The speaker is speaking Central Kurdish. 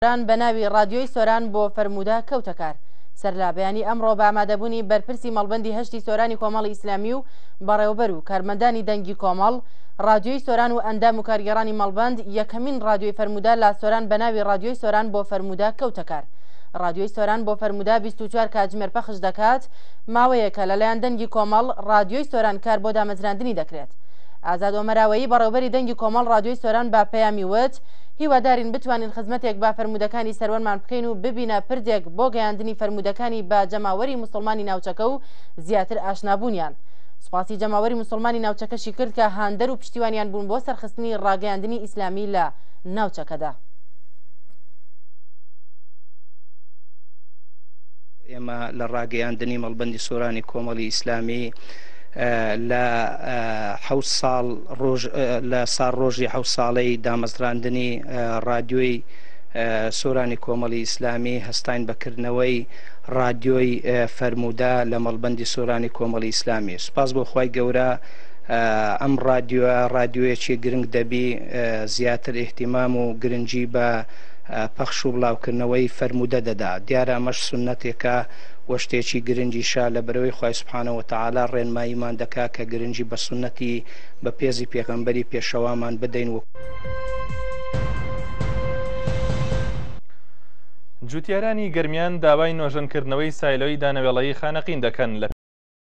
سۆران بە ناوی ڕادیۆی سۆران بۆ فەرموودە کەوتە کار. سەرلە بەیانی ئەمڕۆ بە ئامادەبوونی بەرپرسی مەڵبەندی هەشتی سۆرانی کۆمەڵی ئیسلامی و بەڕێوەبەر و کارمەندانی دەنگی کۆمەڵ، ڕادیۆی سۆران و ئەندام و کارگێڕانی مەڵبەند، یەکەمین ڕادیۆی فەرموودە لە سۆران بە ناوی ڕادیۆی سۆران بۆ فەرموودە کەوتە کار. ڕادیۆی سۆران بۆ فەرموودە بیست و چوار کاتژمێر پەخش دەکات، ماوەیەکە لەلایەن دەنگی کۆمەڵ، ڕادیۆی سۆران کار بۆ دامەزراندنی دەکرێت. ئازاد ئۆمەراوەیی بەڕێوەبەری دەنگی کۆمەڵ ڕادیۆی سۆران بە پەیامی وت، هیوادارین بتوانین خزمەتێک بە فەرموودەکانی سەروەرمان بکەین و ببینە پردێک بۆ گەیاندنی فەرموودەکانی بە جەماوەری موسڵمانی ناوچەکە و زیاتر ئاشنابوونیان. سوپاسی جەماوەری موسڵمانی ناوچەکەشی کرد کە هاندەر و پشتیوانیان بوون بۆ سەرخستنی ڕاگەیاندنی ئیسلامی لە ناوچەکەدا. ئێمە لە ڕاگەیاندنی مەڵبەندی سۆرانی کۆمەڵی ئیسلامی، لە حەوت ساڵ ڕۆژ لە ساڵ ڕۆژی حەوت ساڵەی دامەزراندنی ڕادیۆی سۆرانی کۆمەڵی ئیسلامی هەستاین بەکردنەوەی ڕادیۆی فەرمودا لە مەڵبندی سۆرانی کۆمەڵی ئیسلامی سوپاس بۆ خی گەورە ئەم ڕادیۆ ڕادیۆیەکی گرنگ دەبی زیاتر احتیمام و گرنگی بە پەخش و بڵاوکردنەوەی فەرموودە دەدا دیارە ئەمەش سنەتێکە وە شتێکی گرنگیشە لە برەوەی خوای سبحانە وتعالی ڕێنماییمان دەکا کە گرنگی بە سوننەتی بە پێزی پێغەمبەری پێشەوامان بدەین و. جوتیارانی گەرمیان داوای نۆژەنکردنەوەی سایلۆی دانەوێڵەیی خانەقین دەکەن لە.